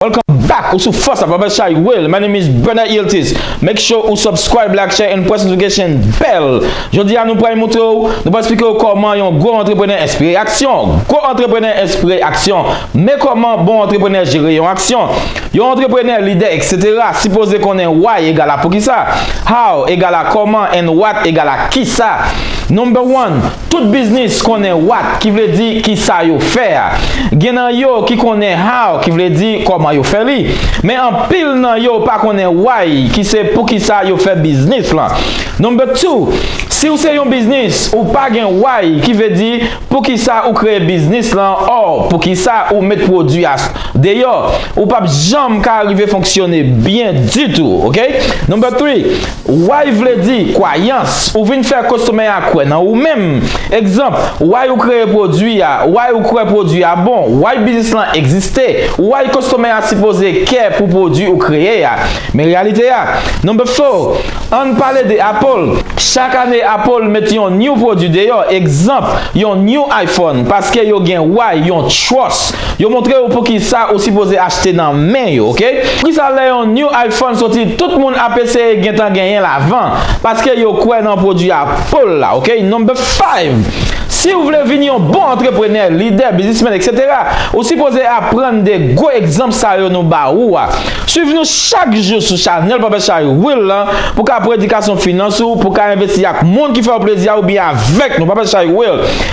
Welcome back ou sou fòs ak Papa Chay Will my name is Bernard Yiltiz make sure ou subscribe like share and press notification bell jodi a nou pral moutre ou nou pral esplike ou kòman yon gwo antreprenè enspire aksyon gwo antreprenè enspire aksyon men kòman bon antreprenè jere yon aksyon Yon antreprenè, lidè etc. Sipoze konnen why egal a poukisa, how egal a kòman and what egal a kisa. Number one, tout biznis konnen what ki vle di kisa yo fè a. Gen nan yo ki konnen how ki vle di kòman yo fè li. Men anpil nan yo pa konnen why ki se poukisa yo fè biznis lan. Number two, si ou se yon biznis ou pa gen why ki ve di poukisa ou kreye biznis lan or poukisa ou met pwodwi a Deyò, ou pap janm ka arive fonksyone byen ditou, ok? Number three, Why vle di, kwayans, ou vin fè kostomè a kwè nan ou menm. Egzanp, Why ou kreye pwodui a, Why ou kwè pwodui a bon, Why biznis lan egziste, Why kostomè a sipoze kè pou pwodui ou kreye a. Men reyalite a. Number four, Ann pale de Apple. Chak ane Apple met yon new pwodui deyò, egzanp, yon new iPhone, paske yo gen why, yon trust. Yo montre ou poukisa ou sipoze achte nan men yo ok. Poukisa lè yon new iPhone soti tout moun ap eseye gentan genyenl avan paske yo kwè nan pwodwi a poul la ok number five siw vle vin yon bon antreprenè lidè biznismen etc ou sipoze aprann de gwo egzanp sa yo nou ba ou a swiv nou chak jou sou chanèl Papa Shay Will lan pou ka pran edikasyon finans ou pou ka envesti ak moun ki fèw plezi a oubyen avèk nou Papa Shay Will